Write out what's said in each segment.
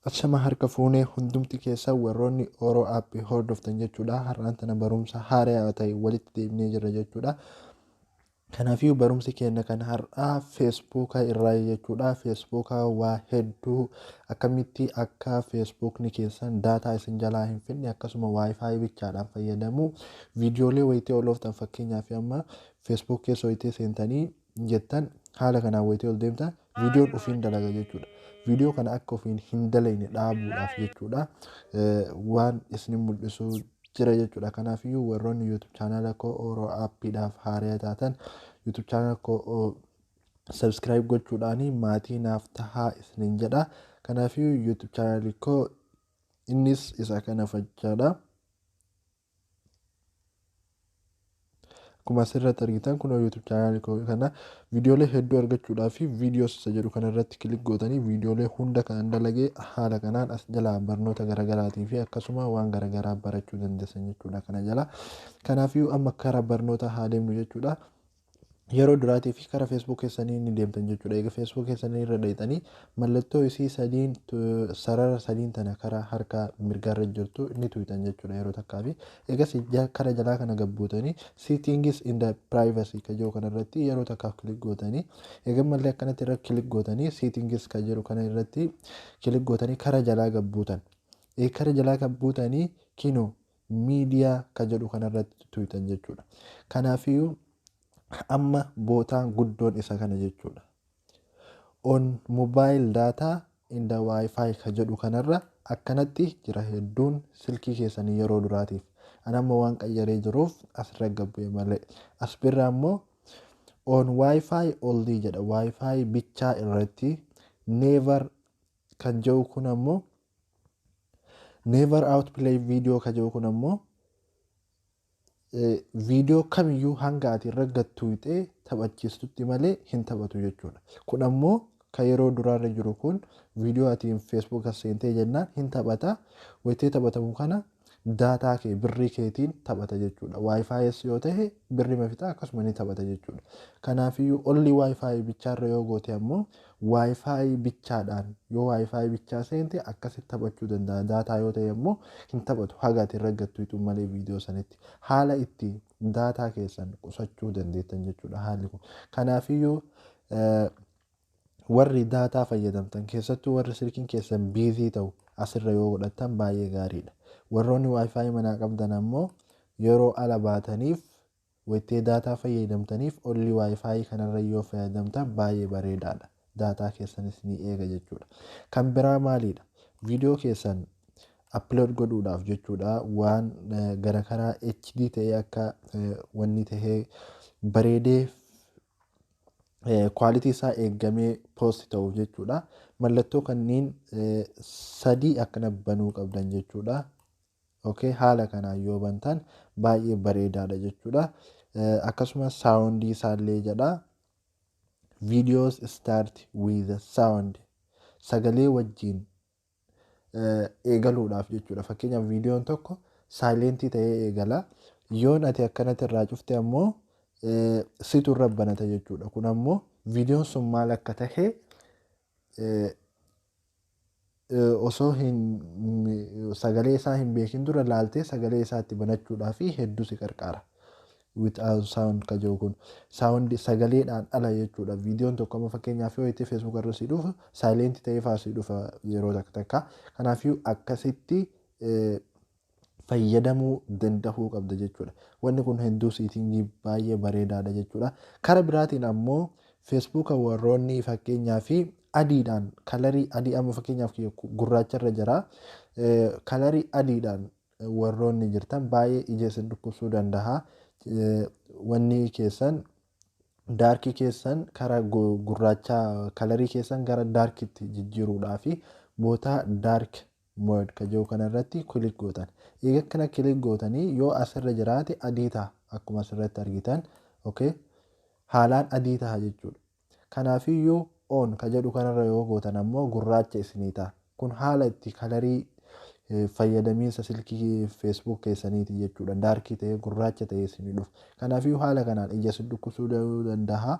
Achama harka fuunee hundumti keessa warroonni Oro App hordoftan jechuudha. Har'aan tana barumsa haaraa ta'e walitti deebinee jirra jechuudha. Kanafiyuu barumsi keenna kan har'aa Facebook irraayi jechuudha. Facebook waa hedduu akkamitti akka Facebookni keessan daataa isin jalaa hin fidne akkasuma wifi bichaadhaan fayyadamuu viidiyoolee wayitee ol ooftan fakkeenyaaf amma Facebook keessa wayitee seentanii jettan haala kanaan wayitee ol deemtan Viidiyoon ofiin dalaga jechuudha. Viidiyoo kana akka ofiin hin dalayne dhaabuudhaaf jechuudha. Waan isin mul'isu jira jechuudha. Kanaafiyyuu warroonni YouTube chaanaala koo Oro Appiidhaaf haaraya taatan YouTube chaanaala koo subscribe gochuudhaanii maatii naaf tahaa isinin jedha. Kanaafiyyuu YouTube chaanaali koo innis isa kana fachaadha. Akkuma asirratti argitan kunoo YouTube chaanaalii koo kana viidiyoolee hedduu argachuudhaa fi viidiyoos isa jedhu kana irratti kilik gootanii viidiyoolee hunda kan dalagee haala kanaan as jalaa barnoota garaagaraatii fi akkasuma waan garaagaraa barachuu dandeessan jechuudha kana jalaa. Kanaafiyyuu amma karaa barnootaa haa deemnu jechuudha. Yeroo duraatiif kara Facebook keessanii ni deemtan jechuudha. Eega Facebook keessanii irra dhayxanii mallattoo isii sadiin sarara sadiin tana kara harka mirgaarra jirtu ni tuyxan jechuudha yeroo takkaa fi eegas kara jalaa kana gabbuutanii settings in the privacy ka jiru kana irratti yeroo takkaaf kilik gootanii eega mallee akkanatti irra kilik gootanii settings ka jiru kana irratti kilik gootanii kara jalaa gabbuutan. Ee kara jalaa gabbuutanii kinoo media ka jedhu kana irratti tuyxan jechuudha. Kanaafiyyuu amma bootaan guddoon isa kana jechuudha. On mobile data and wifi ka jedhu kanarra akkanatti jira hedduun silkii keessanii yeroo duraatiif. An amma waan qayyaree jiruuf asirra gabbu'e malee. As birraa immoo on wifi only jedha wifi bichaa irratti never kan jedhu kun ammoo Never outplay video ka jedhu kun ammoo viidiyoo kamiyyuu hanga ati irra gattuuxee taphachiistutti malee hin taphatu jechuudha. Kun ammoo ka yeroo duraarra jiru kun viidiyoo ati feesbuuka seentee jennaan hin taphata. Wayitee taphatamu kana Daataa kee birrii keetiin taphata jechuudha. Wi-Fi's yoo tahe birrima fixaa akkasuma ni taphata jechuudha. Kanaafiyyuu only Wi-Fi bichaarra yoo goote ammoo Wi-Fi bichaadhaan yoo Wi-Fi bichaa seente akkasitti taphachuu danda'a. Daataa yoo tahe ammoo hin taphatu haga ati irra gattu hixu malee viidiyoo sanitti. Haala itti daataa keessan qusachuu dandeettan jechuudha haalli kun. Kanaafiyyuu Warri daataa fayyadamtan keessattuu warri silkiin keessan biizii ta'u asirra yoo godhattan baay'ee gaariidha. Warroonni wifi manaa qabdan ammoo yeroo ala baataniif wayittee daataa fayyadamtaniif olli wifi kanarra yoo fayyadamtan baay'ee bareedaadha. Daataa keessanis ni eega jechuudha. Kan biraa maaliidha? Viidiyoo keessan upload godhuudhaaf jechuudha waan gara karaa HD ta'ee akka wanni ta'ee bareedee quality isaa eeggamee post ta'uuf jechuudha. Mallattoo kanneen eh, sadii akkana banuu qabdan jechuudha. Okay, haala kanaan yoo bantan baay'ee bareedaadha jechuudha. Eh, Akkasumas saawundii isaallee jedha. Videos start with sound. Sagalee wajjin eegaluudhaaf jechuudha. Fakkeenyaaf viidiyoon tokko saayilentii ta'ee eegala. Yoon ati akkanatti irraa cufte ammoo situ irra banata jechuudha. Kun ammoo viidiyoon sun maal akka ta'e osoo hin sagalee isaa hin beekin dura laaltee sagalee isaatti banachuudhaaf hedduu si qarqaara. without sound ka jiru kun sound sagaleedhaan ala jechuudha viidiyoon tokko amma fakkeenyaaf yoo itti facebook irra si dhufa silent ta'ee faa si dhufa yeroo takka takka kanaafiyyuu akkasitti eh, fayyadamuu danda'uu qabda jechuudha wanni kun hedduu siitingii baay'ee bareedaadha jechuudha kara biraatiin ammoo facebook warroonni fakkeenyaa fi adiidhaan kalarii adii amma fakkeenyaaf kiyya gurraacha irra jira Eh, kalarii adiidhaan warroonni jirtan baay'ee ija isin dhukkubsuu dandaha. Wanni keessan daarkii keessan kara gurraachaa kalarii keessan gara daarkitti jijjiiruudhaa fi bootaa daark mood ka jiru kanarratti kilik gootan. Eega kana kilik gootanii yoo asirra jiraate adii taha akkuma asirratti argitan. Okay. Haalaan adii taha jechuudha. Kanaafiyyuu on ka jedhu kanarra yoo gootan ammoo gurraacha isinii ta'a. Kun haala itti kalarii fayyadamiinsa silkii Facebook keessaniiti jechuudha. Daarkii ta'ee gurraacha ta'ee isinii dhufa. Kanaafiyyuu haala kanaan ija isin dhukkubsuu danda'a.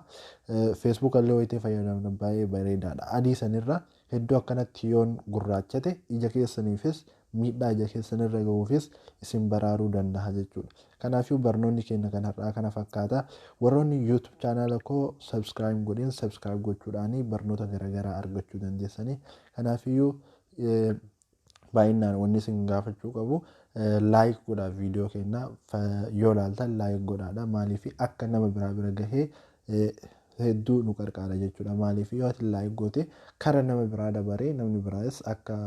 Facebook illee wayitee fayyadamtan baay'ee bareedaadha. Adii sanirra hedduu akkanatti yoon gurraachate ija keessaniifis miidhaa ija keessan irra ga'uufis isin baraaruu danda'a jechuudha. Kanaafuu barnoonni keenya kan har'aa kana fakkaata. Warroonni YouTube chaanaala koo subscribe hin godhin subscribe gochuudhaan barnoota garaagaraa argachuu dandeessanii. Kanaafiyyuu baay'inaan wanni isin gaafachuu qabu like godhaa viidiyoo keenya yoo laaltan like godhaadha maaliif akka nama biraa bira gahee hedduu nu qarqaara jechuudha maaliif yoo ati like goote kara nama biraa dabaree namni biraas akka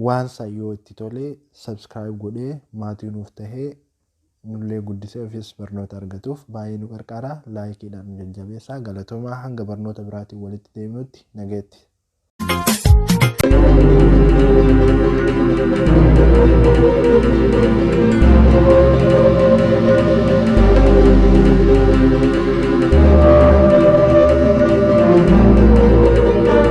Waan isaa yoo itti tole subscribe godhee maatii nuuf tahee nullee guddisee ofiis barnoota argatuuf baay'ee nu qarqaara laayikiidhaan nu jajjabeessaa galatoomaa hanga barnoota biraatiin walitti deebinutti nageetti.